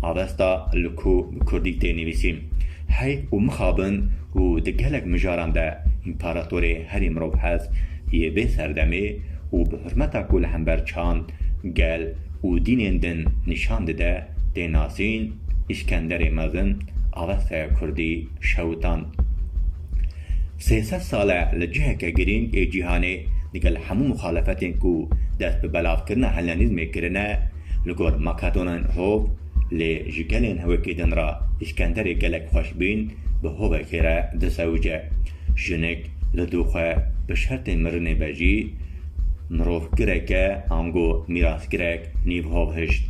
Avesta li ku bi kurdî tê nivîsîn hey û mixabin û di gelek mijaran de împaratorê herî mirovhest yê vê serdemê û bi hurmeta ku li hember çand, gel û dînên din nîşan dide tê nasîn, Îskenderê Mezin Avestaya Kurdî şewitand. Sê sed sal e li ciheke girîng ê cîhanê digel hemû muxalefetên ku dest bi belavkirina Hellenîzmê kirine, Li gor Makadonên hov lê ji gelên hewekê din re Îskenderê gelek xweş bîn bi hovekê re disewice. Jinik li dû xwe bi şertê mirinê be jî mirov gireke ango mîrasgirek nîv hov hişt.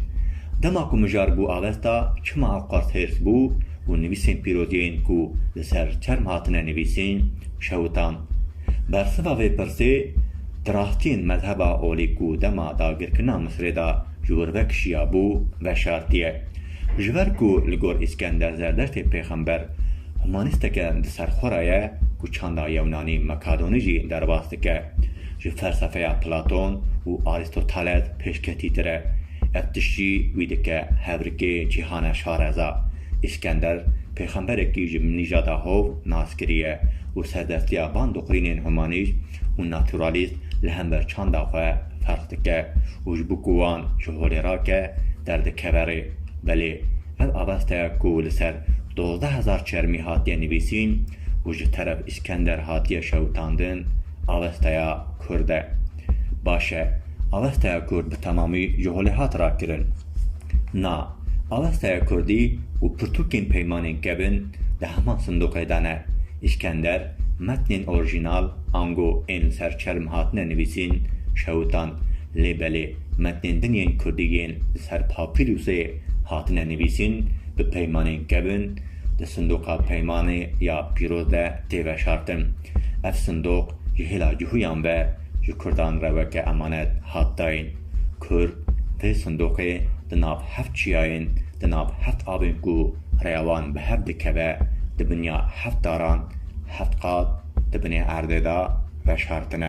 Dema ku mijar bû avesta çima ew qers hêrs bû û nivîsên pîroziyên ku li ser çerm hatine nivîsîn şewitan. Bersiva vê pirsê, traxtiyên mezheba olî ku dema dagirkirina Misrê de ji wir vekişiyabû, veşartiye. Ji ber ku li gor Îskender Zerdeştê pêxember humanîsteke di ser xwe re ye ku çanda yewnanî makadonî jî derbas dike, ji felsefeya Platon û Arîstoteles pêşketîtir e. Ev tiştî wî dike hevrikê cîhane şareza. Îskender pêxemberekî ji Minîjada Hov nas kiriye û serdestiya van doqrînên humanîst û naturalîst li hember çanda xwe ferq dike û ji bo ku wan ji holê rake derdikeve rê. Belê ev aveste ku li ser dozdeh hezar çermî hatiye nivîsîn û ji teref Îskender hatiye şewitandin, avesteya Kurd e. Baş e, avesteya Kurd bi temamî ji holê hat rakirin? Na, avesteya Kurdî û pirtûkên peymanên kevin di heman sindoqê de ne. Îskender, metnên orîjînal ango ên li ser çerm hatine nivîsîn, şewitan. Lê belê metnên din yên Kurdî yên li ser papîrûsê hatine nivîsîn, bi peymanên kevin, di sindoqa peymanê ya pîroz de tê veşartin. Ev sindoq ji hêla cihûyan ve ji Kurdan re weke emanet hat dayîn. Kurd vê sindoqê di nav heft çiyayên, di nav heft avên ku rêya wan bi hev dikeve, di binya heft daran, heft qat di binê erdê de veşartine.